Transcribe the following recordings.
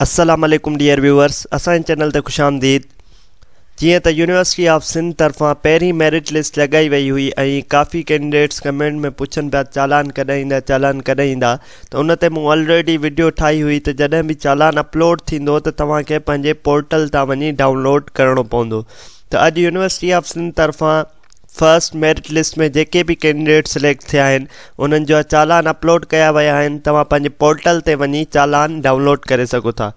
السلام عليڪم dear viewers اسان جي چينل تي خوش آمديد جيئن ته يونيورسٽي آف سنڌ طرفان پهرين ميرٽ لسٽ لڳائي وئي هئي ۽ ڪافي ڪينڊيڊيٽس ڪمينٽ ۾ پڇن پيا چالان ڪڏهن ايندا چالان ڪڏهن ايندا ته ان تي مون الريڊي وڊيو ٺاهي هئي ته جڏهن به چالان اپلوڊ ٿيندو ته توهان کي پنهنجي پورٽل تان وڃي ڊائونلوڊ ڪرڻو پوندو ته اڄ يونيورسٽي آف سنڌ طرفان فرسٽ ميرٽ لسٽ ۾ جيڪي به ڪينڊيڊيٽ سليڪٽ ٿيا آهن انهن جا چالان اپلوڊ ڪيا ويا آهن توهان پنهنجي پورٽل تي وڃي چالان ڊائونلوڊ ڪري سگهو ٿا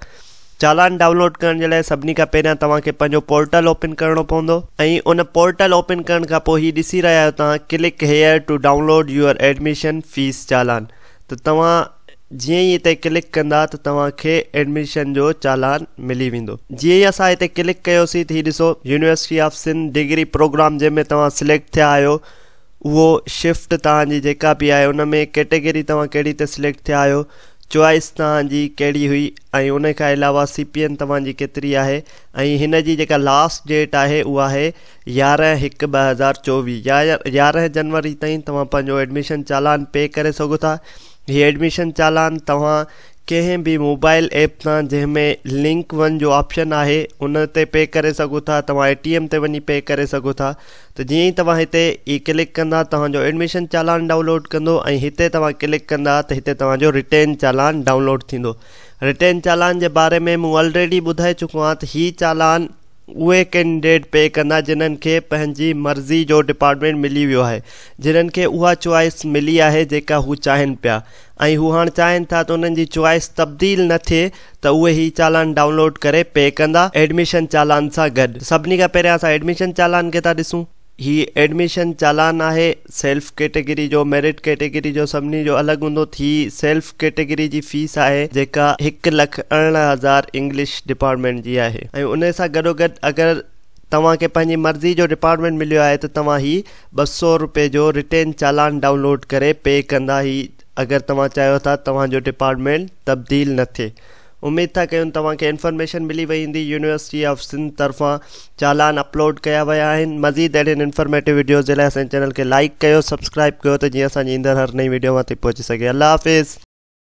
چالان ڊائونلوڊ ڪرڻ جي لاء سڀني کان پهريان توهان کي پنهنجو پورٽل اوپن ڪرڻو پوندو ۽ ان پورٽل اوپن ڪرڻ کان پوء هي ڏسي رهيا آهيو توهان click here to download your admission fee challan ته توهان جيئن ئي اتي ڪلڪ ڪندا ته توهان کي ايڊميشن جو چالان ملي ويندو جيئن ئي اسان اتي ڪلڪ ڪيوسين ته هي ڏسو university of Sindh degree programme جنهن ۾ توهان سليڪٽ ٿيا آهيو اهو شفٽ توهان جي جيڪا به آهي ان ۾ ڪيٽيگري توهان ڪهڙي تي سليڪٽ ٿيا آهيو چوائس توهان جي ڪهڙي هئي ۽ ان کان علاوه سي پي اين توهان جي ڪيتري آهي ۽ هن جي جيڪا لاسٽ ڊيٽ آهي اها آهي يارهن هڪ ٻه هزار چوويهه يارهن جنوري تائين توهان پنهنجو ايڊميشن چالان پي ڪري سگهو ٿا هي ايڊميشن چالان توهان ڪنهن به موبائل ايپ تان جنهن ۾ لنڪ ون جو آپشن آهي ان تي پي ڪري سگهو ٿا توهان اي ٽي ايم تي وڃي پي ڪري سگهو ٿا ته جيئن ئي توهان هتي ئي ڪلڪ ڪندا توهان جو ايڊميشن چالان ڊائونلوڊ ڪندو ۽ هتي توهان ڪلڪ ڪندا ته هتي توهان جو رٽين چالان ڊائونلوڊ ٿيندو رٽين چالان جي باري ۾ مون الريڊي ٻڌائي چڪو آهيان ته هي چالان اهي ڪينڊيڊيٽ پي ڪندا جنهن کي پنهنجي مرضي جو ڊپارٽمينٽ ملي ويو آهي جنهن کي اها چوائس ملي آهي جيڪا هو چاهين پيا ۽ هو هاڻ چاهين ٿا ته انهن جي چوائس تبديل نه ٿئي ته اهي هي چالان ڊائونلوڊ ڪري پي ڪندا ايڊميشن چالان سان گڏ سڀني کان پهريان اسان ايڊميشن چالان کي ٿا ڏسون. هي ايڊميشن چالان آهي سيلف ڪيٽيگري جو ميرٽ ڪيٽيگري جو سڀني جو الڳ هوندو ٿي سيلف ڪيٽيگري جي فيس آهي جيڪا هڪ لک ارڙهن هزار انگلش ڊپارٽمينٽ جي آهي ۽ ان سان گڏوگڏ اگر توهان کي پنهنجي مرضي جو ڊپارٽمينٽ مليو آهي ته توهان هي ٻه سؤ رپئي جو رٽين چالان ڊائونلوڊ ڪري پي ڪندا هي اگر توهان چاهيو ٿا توهان جو ڊپارٽمينٽ تبديل نه ٿئي اميد ٿا ڪيون توهان کي انفارميشن ملي وئي هوندي يونيورسٽي آف سنڌ طرفان چالان اپلوڊ ڪيا ويا آهن مزيد اهڙين انفارميٽو وڊيوز جي لاء اسان جي چينل کي لائيڪ ڪيو سبسڪرائيب ڪيو ته جيئن اسان جي ايندڙ هر نئين وڊيو اوهان تائين پهچي سگهي الله حافظ